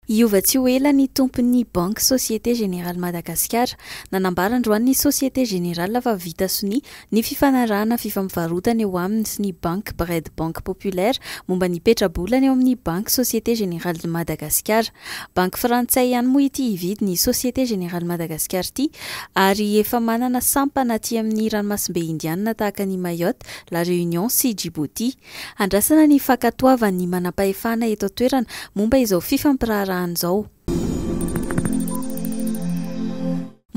Hiova tsy ho ela ny tompon'ny banky Société Générale Madagasikara. Nanambara androany ny Société Générale fa vita sonia ny fifanarahana fifampivarotana eo aminy sy ny banky Bred Banque Populaire momba ny petrabolana eo amin'ny banky Société Générale de Madagasikara. Banky frantsay ihany moa ity hividy ny Société Générale Madagasikara ity ary efa manana sampana aty amin'ny ranomasimbe Indianina tahaka an'i Mayotte, La Réunion sy Djibouti. Andrasana ny fankatoavan'ny manampahefana eto an-toerana momba izao fifampiraharahana izao.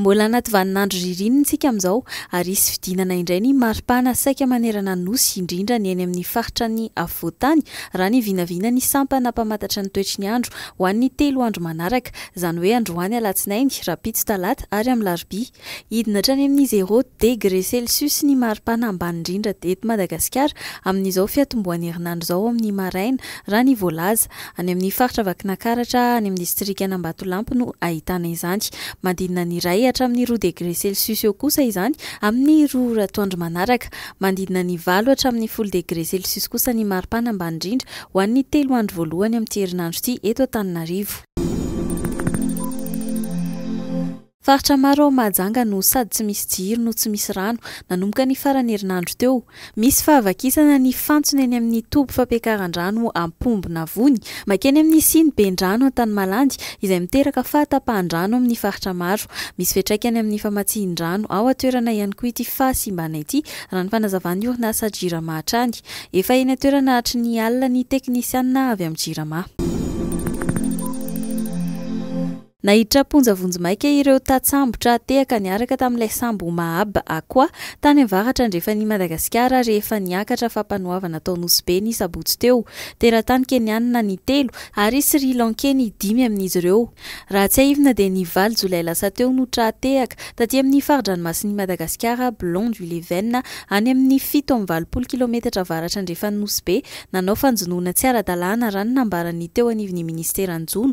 Mbola anaty vaninandro ririnina isika amin'izao ary hisy fidinana indray ny maripana saika manerana ny Nosy indrindra ny eny amin'ny faritra ny afovoan-tany raha ny vinavina ny sampana mpamatatra ny toetry ny andro ho an'ny telo andro manaraka izany hoe androany alatsinainy, rahampitso talata ary alarobia. Hidina hatrany amin'ny zéro degre celsius ny maripana ambany indrindra eto Madagasikara amin'izao fiatombohan'ny herinandro izao ao amin'ny maraina, raha ny voalaza. Any amin'ny faritra Vakinankaratra, any amin'ny distrikan'Ambatolampy no ahitana izany. Manodidina ny iray hatramin'ny roa degre celsius eo kosa izany amin'ny roa ora atoandro manaraka. Manodidina ny valo hatramin'ny folo degre celsius kosa ny maripana ambany indrindra ho an'ny telo andro voalohany amin'ity herinandro ity eto Antananarivo. Faritra maro ao Mahajanga no sady tsy misy jiro no tsy misy rano, nanomboka ny faran'ny herinandro teo. Misy fahavakisana ny fantsona eny amin'ny toby fampiakaran-drano Ampombonavony, makeny amin'ny siny Bendrano Antanimalandy, izay miteraka fahatapahan-drano amin'ny faritra maro. Misy fiantraikany amin'ny famatsian-drano ao an-toerana ihany koa ity fahasimbana ity, raha ny fanazavan'ny orinasa Jirama hatrany. Efa eny an-toerana hatry ny alina ny teknisianina avy amin'ny Jirama. Naiditra am-ponja vonjimaika ireo tatsambotra tehaka niaraka tamin'ilay sambo Maab Aqwa tany avaratra andrefan'i Madagasikara rehefa niakatra fampanoavana tao Nosy Be ny sabotsy teo. Teratany Keniana ny telo ary Sri Lankey ny dimy amin'izy ireo. Raha tsiahivina dia ny valo jolay lasa teo no tra-tehaka taty amin'ny fari-dranomasin'i Madagasikara Blon du Leven any amin'ny fito amby valopolo kilometatra avaratra andrefan'i Nosy Be nanao fanjonoana tsy ara-dalàna raha ny nambaran'ny teo anivon'ny ministeran'ny jono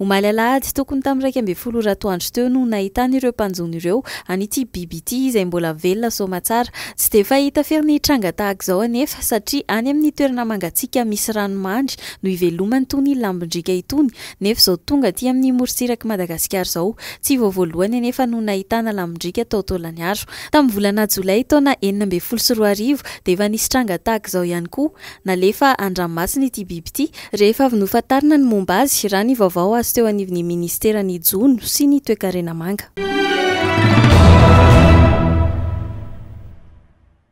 Omaly alahady tokony tamin'ny iraika ambin'ny folo ora atoandro teo no nahitana ireo mpanjono ireo an'ity biby ity izay mbola velona soamatsara. Tsy dia fahita firy ny tranga tahaka izao anefa satria any amin'ny toerana mangatsiaka misy rano mandry no ivelomany itony lambondriaka itony nefa izao tonga aty amin'ny morontsirak'i Madagasikara izao tsy vao voalohany anefa no nahitana lambondriaka tao Tolagnaro. Tamin'ny volana jolay taona enina ambin'ny folo sy roa arivo dia efa nisy tranga tahaka izao ihany koa. Nalefa an-dranomasina ity biby ity Rehefa avy nofantarina ny momba azy, raha ny vaovao azo teo anivon'ny Ministeran'ny Jono sy ny Toekarena Manga.